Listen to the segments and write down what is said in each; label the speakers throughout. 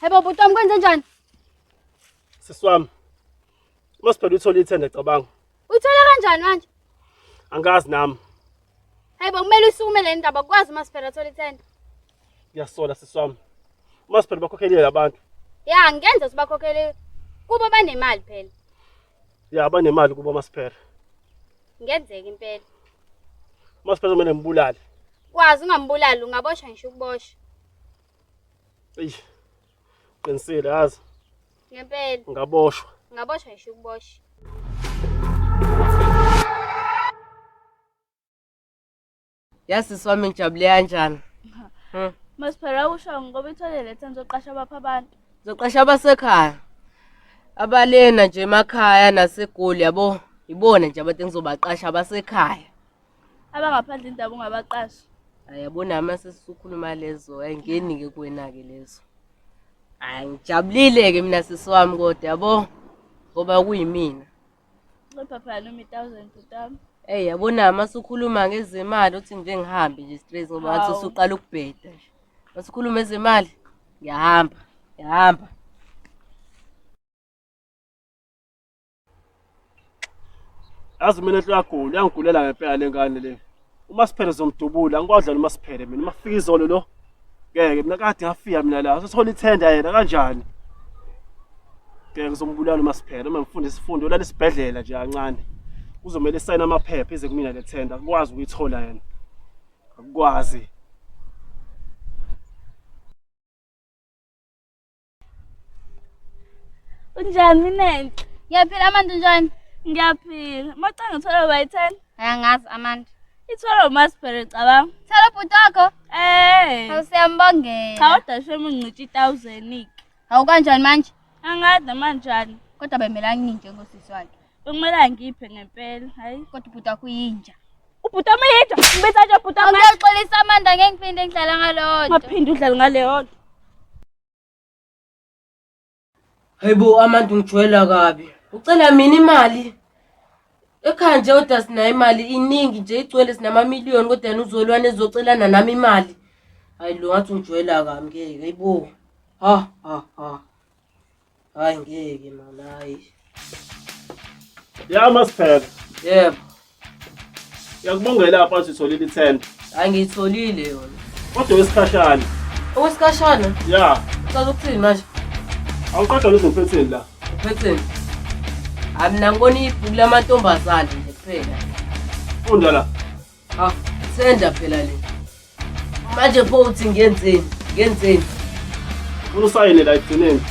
Speaker 1: Hebo bhuti wami kwenze njani?
Speaker 2: Sisi wami. Masiphela uthole ithenda cabanga. Uyithola kanjani
Speaker 1: manje? Angazi
Speaker 2: nami. Hebo
Speaker 1: kumele usukume le ndaba kwazi masiphela thola ithenda. Ngiyasola
Speaker 2: sisi wami. Masiphela bakhokhelile abantu. Ya ngenza
Speaker 1: sibakhokhele kuba banemali phela. ya
Speaker 2: banemali kubo masiphela ngenzeka
Speaker 1: impela
Speaker 2: masiphela kumele ngibulale kwazi
Speaker 1: ungambulali ungaboshwa ngisho ukubosha
Speaker 2: eyi qinisile yazi ngempela
Speaker 1: ngaboshwa
Speaker 2: ngaboshwa ngisho
Speaker 1: ukubosha
Speaker 3: Yasisi wami ngijabule kanjani? Hmm.
Speaker 1: Masiphere awusho ngoba ithole letha ngizoqasha abapha abantu. Ngizoqasha abasekhaya.
Speaker 3: Abalena nje emakhaya naseGoli yabo ibona nje abantu engizobaqasha abasekhaya. Abangaphandle
Speaker 1: indaba ungabaqasha. Ayabona ama
Speaker 3: sesikhuluma lezo ayingeni ke kuwena ke lezo. Angijabulile ke mina sisi wami kodwa yabo ngoba kuyimina.
Speaker 1: Ey yabona mase
Speaker 3: ukhuluma ngezemali uthi nje ngihambe nje straight ngoba ngathi Hawu. usuqala ukubheda nje. Mase ukhuluma ezemali ngiyahamba, ngiyahamba.
Speaker 2: yazi mina hluyagula uyangigulela ngempela le ngane le umasiphere zomdubula ngikwadlala umasiphere mina uma kufika izolo lo ngeke mina kade ngafika mina la sothola ithenda yena kanjani ngeke uzombulala umasiphere uma ngifunda isifundo ulala esibhedlela nje kancane kuzomele sayina amaphepha ize kumina le thenda akwazi ukuyithola yena akwazi
Speaker 1: Unjani minenhle? Ngiyaphila Amanda unjani? Ngiyaphila. Macanga thola by 10. Angazi Amanda. Ithola uMasiphere cabanga. Thola ubhuti wakho? Eh. Awusiyambongela. Cha udashe mungici 1000 ik. Hawu kanjani manje? Angazi manjani. Kodwa bemela nginje ngosisi wakhe. Bekumela ngiphe ngempela. Hayi kodwa ubhuti wakho uyinja. Ubhuti wami yedwa. Ngibethathe ubhuti wami. Awuyaxolisa Amanda ngeke ngiphinde ngidlala ngalodwa. Ngaphinde udlale ngaleyodwa.
Speaker 3: Hayibo amantu ngijwayela kabi. Ucela mina imali. Ekhaya nje kodwa sinayo imali iningi nje igcwele sinamamiliyoni kodwa yena uzolwane ezocelana nami imali. Hayi lo ngathi ungijwayela kabi ngeke hayibo. Ha ha ha. Hayi ngeke mama hayi.
Speaker 2: Ya masiphela. Yebo. Yakubongela apha sitholile ithenda. Hayi ngiyitholile
Speaker 3: yona. Kodwa wesikhashana.
Speaker 2: Owesikhashana?
Speaker 3: Ya.
Speaker 2: Ucela ukuthini manje?
Speaker 3: Awuqeda
Speaker 2: lezi uphetheni la. Uphetheni.
Speaker 3: Hayi mina ngibona ibhuku lamantombazane nje kuphela. Funda la.
Speaker 2: Ah, senda
Speaker 3: phela le. Manje pho uthi ngenzeni? Ngenzeni?
Speaker 2: Ufuna usayine la ekugcineni.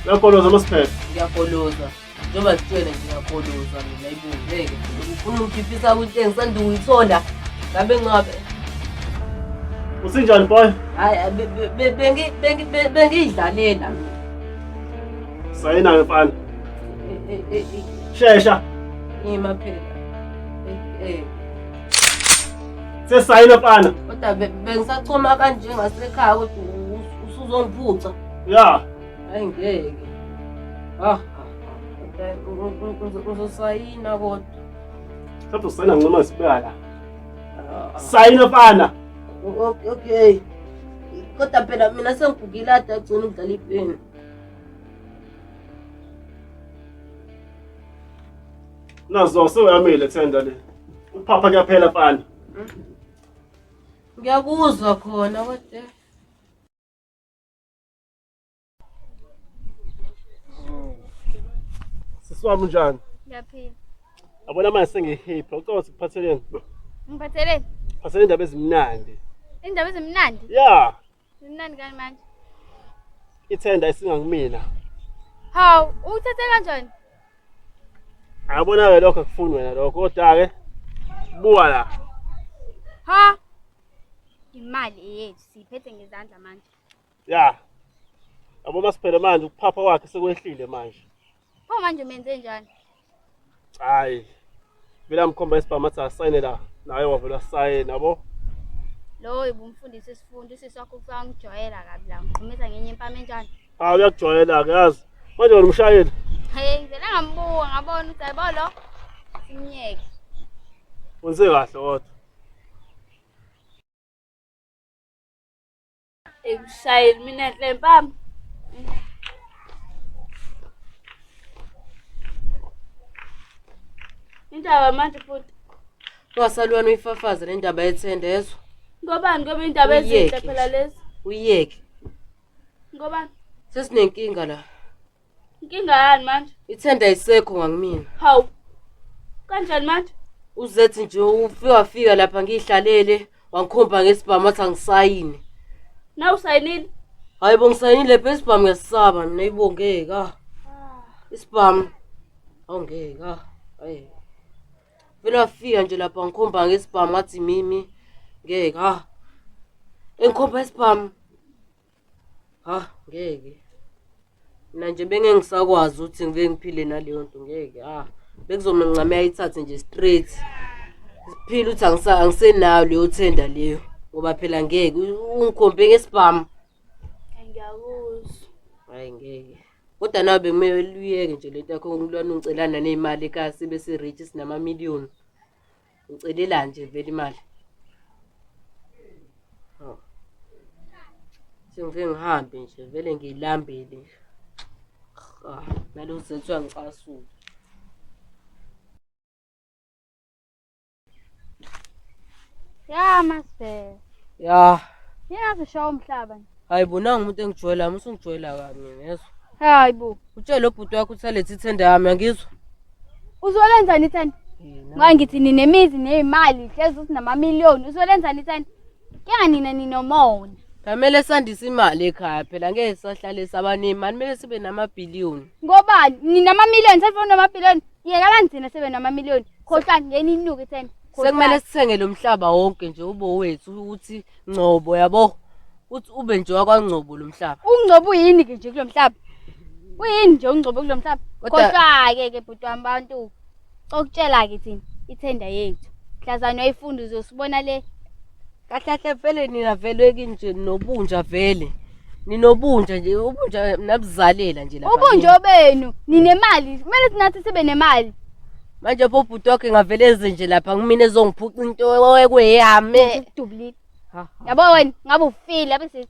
Speaker 2: Uyakoloza amasiphethe. Ngiyakoloza.
Speaker 3: Njengoba sitshwele nje ngiyakoloza mina ibungeke. Ufuna ukukhiphisa kwinto engisanda ukuyithola. Ngabe ngabe Usinjani
Speaker 2: boy? hayi be- be- be-
Speaker 3: bengi- bengi- be- bengiyidlalela mina.
Speaker 2: Sayina mfana. Shesha. Ngima phela. Eh. Sesayina pana. Kodwa bengisachoma
Speaker 3: kanje ngasekhaya kodwa usuzongiphuca. Ya. Hayi
Speaker 2: ngeke.
Speaker 3: Ah. Uzosayina kodwa. Kodwa
Speaker 2: usayina noma sibala. Ah. Sayina pana. Okay.
Speaker 3: Kodwa phela mina sengigugile adagcina ukudlala ipeni.
Speaker 2: Nazo sewuyamile thenda le. Uphapha kuyaphela mfana.
Speaker 3: Ngiyakuzwa khona kodwa
Speaker 2: Siswami unjani? Ngiyaphila.
Speaker 1: Yabona manje
Speaker 2: sengihipha ucabanga ukuthi kuphatheleni? Ngiphatheleni
Speaker 1: Phathele indaba
Speaker 2: ezimnandi. indaba ezimnandi.
Speaker 1: Ya,
Speaker 2: Imnandi kani
Speaker 1: manje?
Speaker 2: Ithenda isingakumina. Hawu,
Speaker 1: uthethe kanjani?
Speaker 2: Yabona ke lokho akufuni wena lokho kodwa ke buka la. Ha?
Speaker 1: Imali eyethu siyiphethe ngezandla manje. Ya.
Speaker 2: Yabo masiphele manje ukuphapha kwakhe sekwehlile manje. Pho manje
Speaker 1: umenze njani? Hayi.
Speaker 2: Vela mkhomba isibhamu athi asayine la. Naye wavela sayina yabo. Lowo
Speaker 1: ibumfundisi isifundo usisi wakho kufika ngijwayela kabi la ngiqhumisa ngenye impama enjani. Hayi uyakujwayela ke
Speaker 2: yazi. Manje wena umshayeli. Hey ngivele
Speaker 1: ngambuka ngabona ukuthi hayibo lo simyeke. Wenze kahle
Speaker 2: kodwa.
Speaker 1: Ekushaye mina hlempama. Indaba manje futhi Wasalwana
Speaker 3: uyifafaze le ndaba yethende yezwa. ngobani ngoba
Speaker 1: indaba ezinhle Uyeke. phela lezi. Uyeke. Ngobani? Sesinenkinga
Speaker 3: la. Inkinga
Speaker 1: yani manje? Ithenda isekho
Speaker 3: ngakumina. Hawu.
Speaker 1: Kanjani manje? Uzethi nje
Speaker 3: ufike wafika lapha ngihlalele wangikhomba ngesibhamu athi angisayini. Na
Speaker 1: usayinile? Hayi bo ngisayinile
Speaker 3: phela isibhamu ngiyasisaba mina ibongeka. Ah. Isibhamu. Awungeka. Hayi. Vele wafika nje lapha ngikhomba ngesibhamu athi mimi ngeke ha. Engikhomba isibhamu. ha ngeke mina nje bengeke ngisakwazi ukuthi ngike ngiphile naleyo nto ngeke ha bekuzomele ncame ayithathe nje straight siphile ukuthi angisa- angisenayo leyo thenda leyo ngoba phela ngeke u- ungikhombe ngesibhamu ngiyakuzwa
Speaker 1: hayi ngeke
Speaker 3: kodwa nawe bekumele luyeke nje lento yakho ngilwana ungicelana ney'mali ekasi bese-rich sinamamiliyoni Ucelela nje vele imali. Oh. Sengivike ngihambe nje vele ngiyilambele nje. Ah, nalo uzethu uyangicasula.
Speaker 1: Ya masibheke. Ya,
Speaker 3: Yena zishawa
Speaker 1: umhlaba nje. hayi bo nangu umuntu
Speaker 3: engijwayelayo usungijwayela kabi mina yezwa hayi bo
Speaker 1: utshele lobhuti wakho
Speaker 3: ukuthi alethe ithenda yami angizwa uzolenzani
Speaker 1: ithenda ngoba ngithi ninemizi neyimali hlezi uthi namamiliyoni uzolenzani ithenda kuyanga nina ninomona Kamele sandise
Speaker 3: imali ekhaya phela ngeke sahlale sabaningi mani kumele sibe namabhiliyoni. Ngobani? Nina
Speaker 1: ama million sefuna ama billion. Yekala nithina sebe nama million. Khohlani ngeni inuke ithemba. sekumele sithenge lo
Speaker 3: mhlaba wonke nje ube wethu ukuthi ngcobo yabo uthi ube nje wakwangcobo lo mhlaba ungcobo yini ke nje
Speaker 1: kulo mhlaba uyini nje ungcobo kulo mhlaba kodwa-ke ke bhuti wami bantu cokutshela-ke thina ithenda yethu mhlazane wayifunda uzosibona le kahle kahle
Speaker 3: vele nina vele kinje nobunja vele ninobunja nje ubunja nabuzalela nje lapha ubunja obenu
Speaker 1: ninemali kumele sinathi sibe nemali manje pho
Speaker 3: ubhuti wakhe ngavele eze nje lapha kumina ezongiphuca into ekweyame
Speaker 1: yabo wena ngabe ufile abese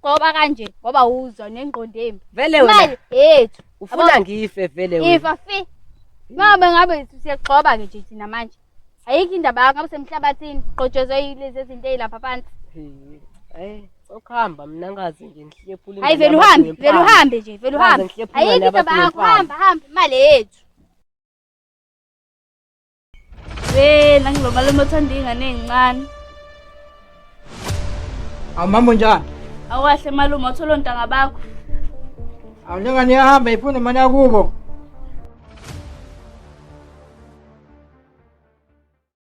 Speaker 1: Qoba kanje ngoba uzwa nengqondo embi. Vele wena. Imali
Speaker 3: yethu.
Speaker 1: Ufuna ngife
Speaker 3: vele wena. Ifa fi.
Speaker 1: Mama ngabe siyagxoba ke nje thina manje. Ayikho indaba yakho ngabe semhlabathini qotshozwe yilezi zinto ezilapha phansi. Eh. Sokuhamba
Speaker 3: mina ngazi nje ngihlephule. Hayi vele uhambe, vele
Speaker 1: uhambe nje, vele uhambe. Ayikho indaba yakho hamba hamba imali yethu. Hey, nangiba malume othanda ingane ezincane.
Speaker 4: Awu mambo njani? Awahle malume
Speaker 1: othola
Speaker 4: ontanga
Speaker 1: bakho.
Speaker 4: Awu
Speaker 1: njengani yahamba
Speaker 4: ifuna
Speaker 1: imali yakubo.